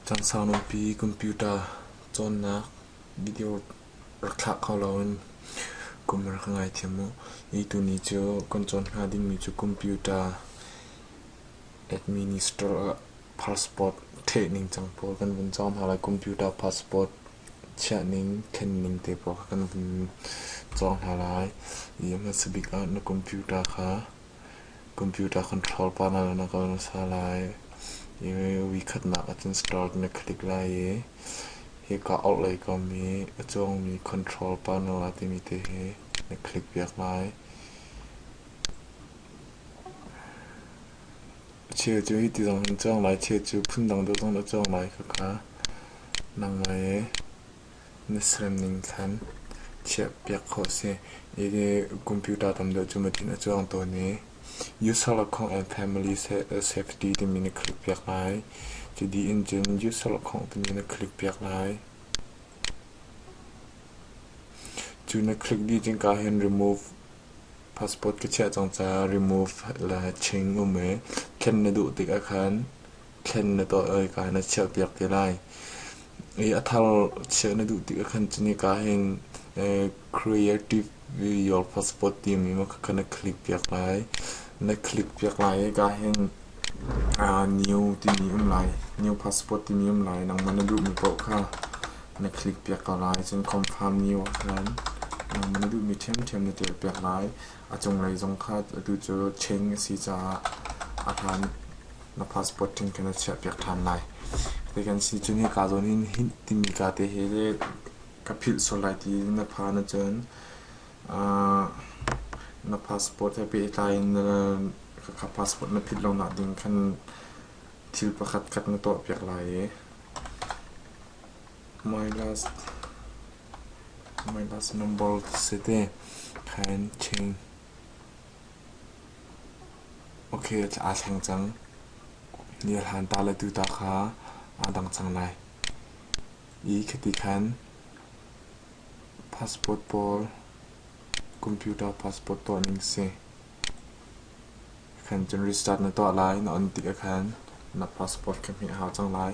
Cansang nunpi computer cawnnak video rak thlak hau loin kum rak ka ngaithiam u. Hi tuni cu kan cawn hnga dingmi cu computer Administrator ah passport thleh ningcang pawl kan vun cawng hna lai. Computer passport chiah ning, thlen ning te pawl kha kan vun cawng hna lai. I a hmasa bik ah na computer kha computer control pa hna na kawl hmasa lai. I voikhatnak ahcun start na click lai i hika orhlei kom i a cawngmi control pa no ah timi te hi na click piak lai. Cheu cu hiti zong hin a cang lai, cheu cu phundang deuh zong nih a cang lai kha ka nang ngai ee. Na serem ning thlan chiahpiak khawh a si. Hihi computer tam deuh cu matin a cang tawn i user account and family safety timi na click piak lai. Cu dih in cun user account timi na click piak lai. Cu na click dih cun kaa hin remove Passport ka chiah cang caah remove le ching um i thlen na duh tik ahkhan thlen na tuah ika na chiahpiak ti lai. I a thar chiah na duh tik ahkhan cu nika hin creative your passport timi ma kha na click piak lai. Na click piak lai ika hin new timi um lai, new passport timi um lai nangmah na duhmi paoh kha na click piak ko lai. Cun confirm new ah khan na duhmi ṭhiamṭhiam na ṭial piak lai. A cunglei zong kha atu cu cheng a si caah a hlan na passport ṭhing kha na chiah piak ṭhan lai. Ti kan si cu nika zawn in hi timi ka te he le ka philh sual lai ti na pha na cun na passport he pehtlai in ka passport na philh lo nak ding khan thil pakhat khat na tuah piak lai i Milas number si te kha in ṭhing. Ok, aa thleng cang. Nihlan ta le tu ta kha aa dang cang lai. I khiti khan passport pawl, computer passport tuahning si. Fantin restart na tuah lai na on tik ahkhan na passport ka hmeh hau cang lai.